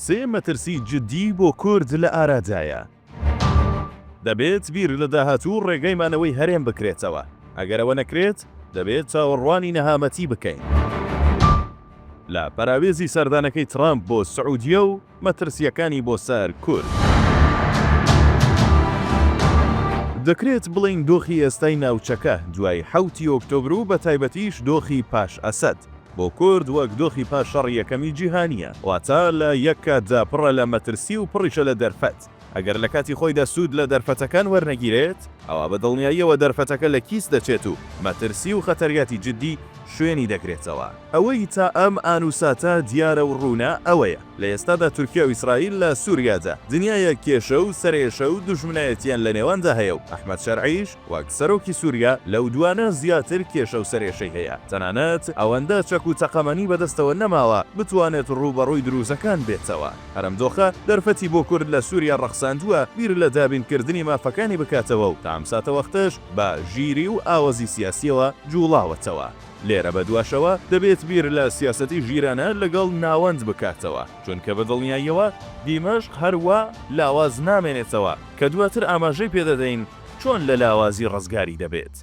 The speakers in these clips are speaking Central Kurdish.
سێ مەترسی جدی بۆ کورد لە ئارادایە. دەبێت بیر لە داهاتوو و ڕێگای مانەوەی هەرێم بکرێتەوە. ئەگەر ئەوە نەکرێت، دەبێت چاوەڕوانی نەهامەتی بکەین. لە پەراوێزی سەردانەکەی ترامپ بۆ سعودیە و مەترسییەکانی بۆ سەر کورد. دەکرێت بڵێین دۆخی ئێستای ناوچەکە، دوای حەوت ی ئۆکتۆبر و بە تایبەتیش دۆخی پاش ئەسەد، بۆ کورد وەک دۆخی پاش شەڕی یەکەمی جیهانییە، واتە لە یەک کاتدا پڕە لە مەترسی و پڕیشە لە دەرفەت. ئەگەر لە کاتی خۆیدا سوود لە دەرفەتەکان وەرنەگیرێت، ئەوا بە دڵنیاییەوە دەرفەتەکە لە کیس دەچێت و مەترسی و خەتەریاتی جیددی شوێنی دەگرێتەوە. ئەوەی تا ئەم ئان و ساتە دیارە و ڕوونە ئەوەیە، لە ئێستادا تورکیا و ئیسرائیل لە سووریادا دنیایەک کێشە و سەرئێشە و دوژمنایەتییان لە نێواندا هەیە و ئەحمەد شەرعیش وەک سەرۆکی سووریا لەو دووانە زیاتر کێشە و سەرئێشەی هەیە، تەنانەت ئەوەندە چەک و تەقەمەنی بەدەستەوە نەماوە بتوانێت ڕووبەڕووی درووزەکان بێتەوە. هەر ئەم دۆخە دەرفەتی بۆ کورد لە سوریا ڕەخساندووە بیر لە دابین کردنی مافەکانی بکاتەوە و تا ئەم ساتەوەختەش بە ژیری و ئاوەزی سیاسیەوە جوڵاوەتەوە لێرە بە دواشەوە دەبێت بیر لە سیاسەتی ژیرانە لەگەڵ ناوەند بکاتەوە چونکە بە دڵنیاییەوە دیمەشق هەر وا لاواز نامێنێتەوە کە دواتر ئاماژەی پێ دەدەین چۆن لە لاوازی ڕزگاری دەبێت.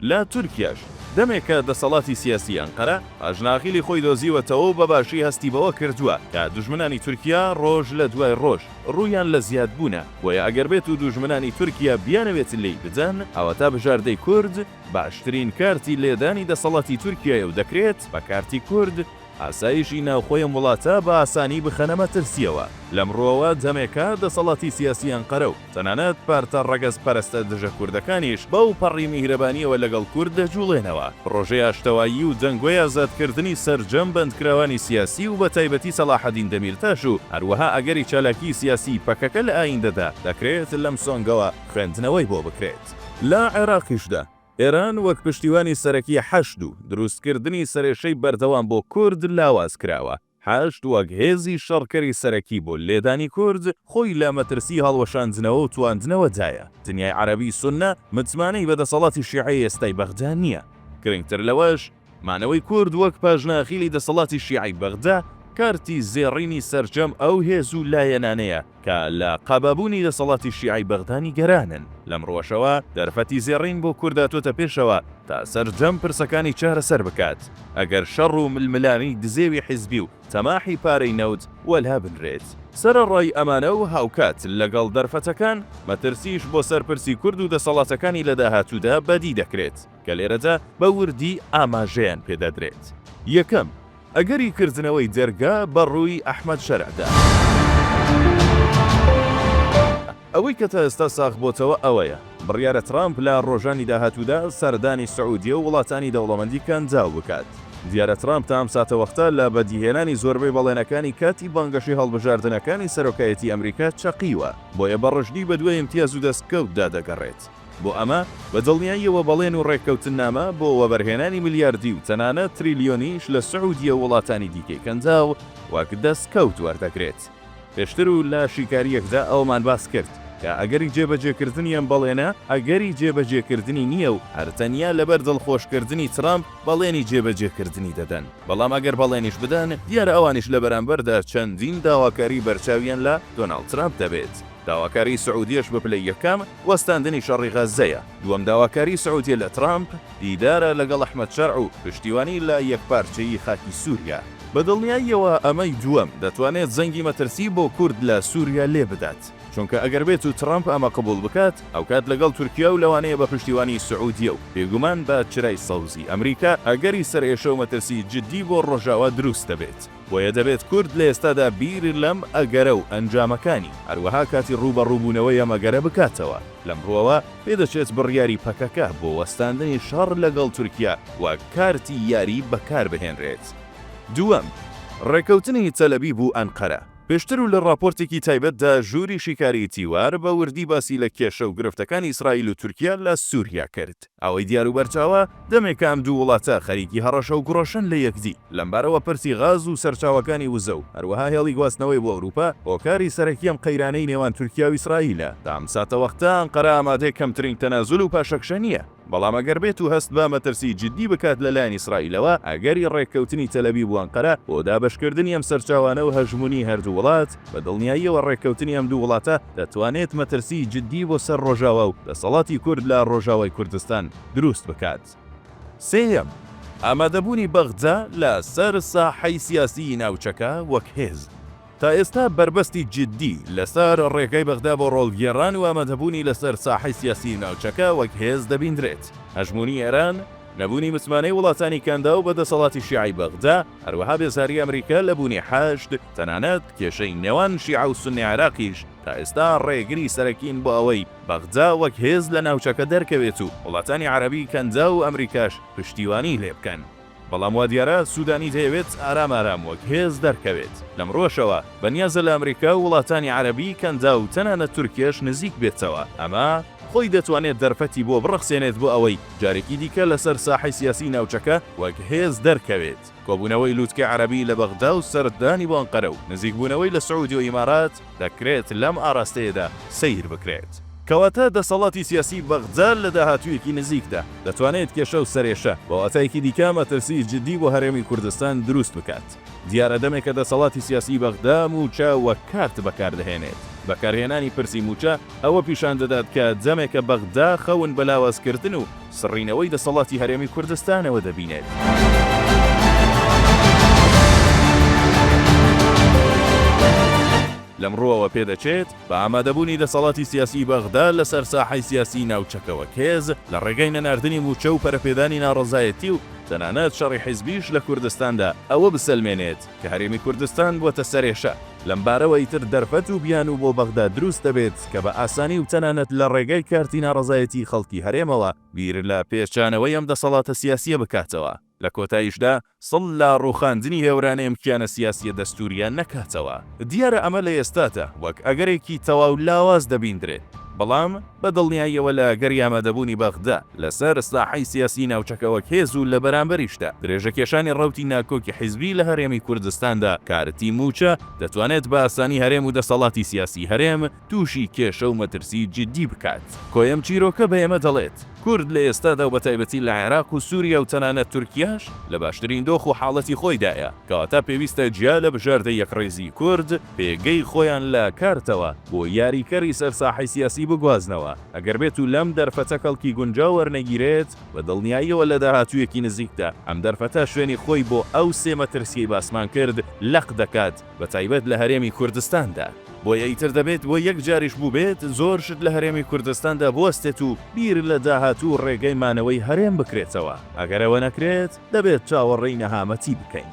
لە تورکیاش دەمێکە دەسەڵاتی سیاسی ئەنقەرە ئاژناغیلی خۆی دۆزیوەتەوەو بە باشی هەستی بەوە کردووە کە دوژمنانی تورکیا ڕۆژ لە دوای ڕۆژ ڕوویان لە زیاد بوونە، بۆیە ئەگەر بێتو دوژمنانی تورکیا بیانەوێت لێی بدەن ئەوەتا بژاردەی کورد باشترین کارتی لێدانی دەسەڵاتی تورکیایەو دەکرێت بە کارتی کورد ئاسایشی ناوخۆی ئەم وڵاتە بە ئاسانی بخەنە مەترسیەوە، لەم ڕوەوە دەمێکە دەسەڵاتی سیاسی ئەنقەرەو. تەنانەت پارتە ڕەگەزپەرستە دژەکوردەکانیش بەو پەڕی میهرەبانییەوە لەگەڵ کورد دەجوڵێنەوە. پڕۆژەی ئاشتەوایی و جەنگۆی ئازادکردنی سەرجەم بەندکراوانی سیاسی و بەتایبەتی سەڵاحەدین دەمیرتاش و هەروەها ئەگەری چالاکیی سیاسیی پەکەکە لە ئاییندەدا، دەکرێت لەم سۆنگەوە خوێندنەوەی بۆ بکرێت. لە عێراقیشدا، ئێران وەک پشتیوانی سەرەکی حەشد و دروستکردنی سەرێشەی بەردەوام بۆ کورد لاواز کراوە. حەشد وەک هێزی شەڕکەری سەرەکی بۆ لێدانی کورد، خۆی لە مەترسی هەڵوەشاندنەوە و تواندنەوە دایە. دنیای عەرەبی سوننە متمانەی بە دەسەڵاتی شیعەی ئێستای بەغدا نییە. گرنگتر لەوەش، مانەوەی کورد وەک پاژنەئاخیلی دەسەڵاتی شیعەی بەغدا، کارتی زێڕینی سەرجەم ئەو هێز و لایەنانەیە کە لە قابابوونی دەسەڵاتی شیعەی بەغدا نیگەرانن. لەمڕوەشەوە دەرفەتی زێڕین بۆ کورد هاتۆتە پێشەوە تا سەرجەم پرسەکانی چارەسەر بکات، ئەگەر شەڕ و ململانێی دزێوی حیزبی و تەماحی پارەی نەوت وەلا بنرێت. سەرەڕای ئەمانە و هاوکات لەگەڵ دەرفەتەکان، مەترسیش بۆ سەر پرسی کورد و دەسەڵاتەکانی لە داهاتوودا بەدی دەکرێت، کە لێرەدا بە وردی ئاماژەیان پێ دەدرێت. یەکەم، ئەگەری کردنەوەی دەرگا بە ڕووی ئەحمەد شەرعدا. ئەوەی کە تا ئێستا ساغ بۆتەوە ئەوەیە، بڕیارە ترامپ لە ڕۆژانی داهاتوودا سەردانی سعودیە و وڵاتانی دەوڵەمەندی کەنداو بکات. دیارە ترامپ تا ئەم ساتەوەختە لە بەدیهێنانی زۆربەی بەڵێنەکانی کاتی بانگەشەی هەڵبژاردنەکانی سەرۆکایەتی ئەمریکا چەقیوە، بۆیە بە ڕژدی بەدوای ئیمتیاز و دەستکەوتدا دەگەڕێت. بۆ ئەمە بە دڵنیاییەوە بەڵێن و ڕێککەوتننامە بۆ وەبەرهێنانی ملیاردی و تەنانەت تریلیۆنیش لە سعودیە و وڵاتانی دیکەی کەنداو وەک دەستکەوت وەردەگرێت. پێشتر و لە شیکارییەکدا ئەوەمان باس کرد کە ئەگەری جێبەجێکردنی ئەم بەڵێنە ئەگەری جێبەجێکردنی نییە و هەر تەنیا لەبەر دڵخۆشکردنی ترەمپ بەڵێنی جێبەجێکردنی دەدەن، بەڵام ئەگەر بەڵێنیش بدەن دیارە ئەوانیش لە بەرامبەردا چەندین داواکاری بەرچاویان لە دۆناڵد ترەمپ دەبێت. داواکاری سعودیەش بە پلەی یەکەم وەستاندنی شەڕی غەززەیە، دووەم داواکاری سعودیە لە ترامپ دیدارە لەگەڵ ئەحمەد شەرع و پشتیوانی لە یەکپارچەیی خاکی سوریا. بە دڵنیاییەوە ئەمەی دووەم دەتوانێت زەنگی مەترسی بۆ کورد لە سوریا لێ بدات، چونکە ئەگەر بێتو ترامپ ئەمە قبوڵ بکات ئەوکات لەگەڵ تورکیا و لەوانەیە بە پشتیوانی سعودیە و بێگومان بە چرای سەوزی ئەمریکا ئەگەری سەرئێشە و مەترسی جدی بۆ ڕۆژاوا دروست دەبێت. بۆیە دەبێت کورد لە ئێستادا بیر لەم ئەگەرە و ئەنجامەکانی، هەروەها کاتی ڕووبەڕووبوونەوەی ئەم ئەگەرە بکاتەوە. لەم ڕووەوە پێدەچێت بڕیاری پەکەکە بۆ وەستاندنی شەڕ لەگەڵ تورکیا وەک کارتی یاری بەکار بهێنرێت. دووەم، ڕێککەوتنی تەلەبیب و ئەنقەرە. پێشتر و لە ڕاپۆرتێکی تایبەتدا ژووری شیکاریی تیوار بە وردی باسی لە کێشە و گرفتەکانی ئیسرائیل و تورکیا لە سووریا کرد. ئەوەی دیار و بەرچاوە، دەمێکە ئەم دوو وڵاتە خەریکی هەڕەشە و گوڕەشن لە یەکدی. لەمبارەوە پرسی غاز و سەرچاوەکانی وزە و هەروەها هێڵی گواستنەوەی بۆ ئەوروپا، هۆکاری سەرەکی ئەم قەیرانەی نێوان تورکیا و ئیسرائیلە. تا ئەم ساتەوەختە ئەنقەرە ئامادەی کەمترین تەنازول و پاشەکشە نییە، بەڵام ئەگەر بێتو هەست بە مەترسی جیددی بکات لە لایەن ئیسرائیلەوە، ئەگەری ڕێککەوتنی تەلەبیب و ئەنقەرە بۆ دابەشکردنی ئەم سەرچاوانە و هەژمونی هەردوو وڵات، بە دڵنیاییەوە ڕێککەوتنی ئەم دوو وڵاتە دەتوانێت مەترسیی جددی بۆ سەر ڕۆژاوا و دەسەڵاتی کورد لە ڕۆژاوای کوردستان دروست بکات. سێیەم، ئامادەبوونی بەغدا لە سەر ساحەی سیاسیی ناوچەکە وەک هێز. تا ئێستا بەربەستی جددی لە سەر ڕێگای بەغدا بۆ ڕۆڵگێڕان و ئامادەبوونی لە سەر ساحەی سیاسیی ناوچەکە وەک هێز دەبیندرێت. هەژموونی ئێران، نەبوونی متمانەی وڵاتانی کەنداو بە دەسەڵاتی شیعەی بەغدا، هەروەها بێزاری ئەمریکا لە بوونی حەشد، تەنانەت کێشەی نێوان شیعە و سوننەی عێراقیش تا ئێستا ڕێگری سەرەکین بۆ ئەوەی بەغدا وەک هێز لە ناوچەکە دەرکەوێت و وڵاتانی عەرەبی کەنداو و ئەمریکاش پشتیوانیی لێ بکەن. بەڵام وا دیارە سوودانی دەیەوێت ئارام ئارام وەک هێز دەرکەوێت. لەمڕووەشەوە بەنیازە لە ئەمریکا و وڵاتانی عەرەبی کەنداو و تەنانەت تورکیەش نزیک بێتەوە. ئەمە. خۆی دەتوانێت دەرفەتی بۆ بڕەخسێنێت بۆ ئەوەی جارێکی دیکە لەسەر ساحەی سیاسی ناوچەکە وەک هێز دەرکەوێت. کۆبوونەوەی لوتکەی عەرەبی لە بەغدا و سەردانی بۆ ئەنقەرە و نزیکبوونەوەی لە سعودی و ئیمارات دەکرێت لەم ئاراستەیەدا سەیر بکرێت. کەواتە دەسەڵاتی سیاسی بەغدا لە داهاتوویەکی نزیکدا دەتوانێت کێشە و سەرێشە بە واتایەکی دیکە مەترسی جدی بۆ هەرێمی کوردستان دروست بکات. دیارە دەمێکە دەسەڵاتی سیاسیی بەغدا مووچە وەک کارت بەکار دەهێنێت. بەکارهێنانی پرسی مووچە ئەوە پیشان دەدات کە دەمێکە بەغدا خەون بە لاوازکردن و سڕینەوەی دەسەڵاتی هەرێمی کوردستانەوە دەبینێت. لەم ڕووەوە پێدەچێت بە ئامادەبوونی دەسەڵاتی سیاسیی بەغدا لە سەر ساحەی سیاسیی ناوچەکەوە کێز، لە ڕێگای نەناردنی مووچە و پەرەپێدانی ناڕەزایەتی و تەنانەت شەڕی حیزبیش لە کوردستاندا، ئەوە بسەلمێنێت کە هەرێمی کوردستان بووەتە سەرێشە، لەم بارەوە ئیتر دەرفەت و بیانوو بۆ بەغدا دروست دەبێت کە بە ئاسانی و تەنانەت لە ڕێگای کارتی ناڕەزایەتیی خەڵکی هەرێمەوە بیر لە پێچانەوەی ئەم دەسەڵاتە سیاسییە بکاتەوە. لە کۆتاییشدا سڵ لە ڕووخاندنی هێورانە ئەم کیانە سیاسییە دەستوورییە نەکاتەوە. دیارە ئەمە لە ئێستادا وەک ئەگەرێکی تەواو لاواز دەبیندرێت، بەڵام بە دڵنیاییەوە لە ئەگەری ئامادەبوونی بەغدا لەسەر ساحەی سیاسیی ناوچەکە وەک هێز و لە بەرامبەریشدا درێژەکێشانی ڕەوتی ناکۆکی حیزبی لە هەرێمی کوردستاندا کارتی مووچە دەتوانێت بە ئاسانی هەرێم و دەسەڵاتی سیاسیی هەرێم تووشی کێشە و مەترسی جیددی بکات. کۆی ئەم چیرۆکە بە ئێمە دەڵێت، کورد لە ئێستادا و بەتایبەتی لە عێراق و سووریا و تەنانەت تورکیاش لە باشترین دۆخ و حاڵەتی خۆیدایە، کەواتە پێویستە جیا لە بژاردەی یەکڕیزی کورد، پێگەی خۆیان لە کارتەوە بۆ یاریکەری سەر ساحەی سیاسی بگوازنەوە، ئەگەر بێتوو لەم دەرفەتە کەڵکی گونجاو وەرنەگیرێت، بە دڵنیاییەوە لە داهاتوویەکی نزیکدا ئەم دەرفەتە شوێنی خۆی بۆ ئەو سێ مەترسییەی باسمان کرد لەق دەکات، بەتایبەت لە هەرێمی کوردستاندا، بۆیە ئیتر دەبێت بۆ یەک جاریش بووبێت زۆر شت لە هەرێمی کوردستاندا بوەستێت و بیر لە داهاتوو و ڕێگەی مانەوەی هەرێم بکرێتەوە، ئەگەر ئەوە نەکرێت دەبێت چاوەڕێی نەهامەتی بکەین.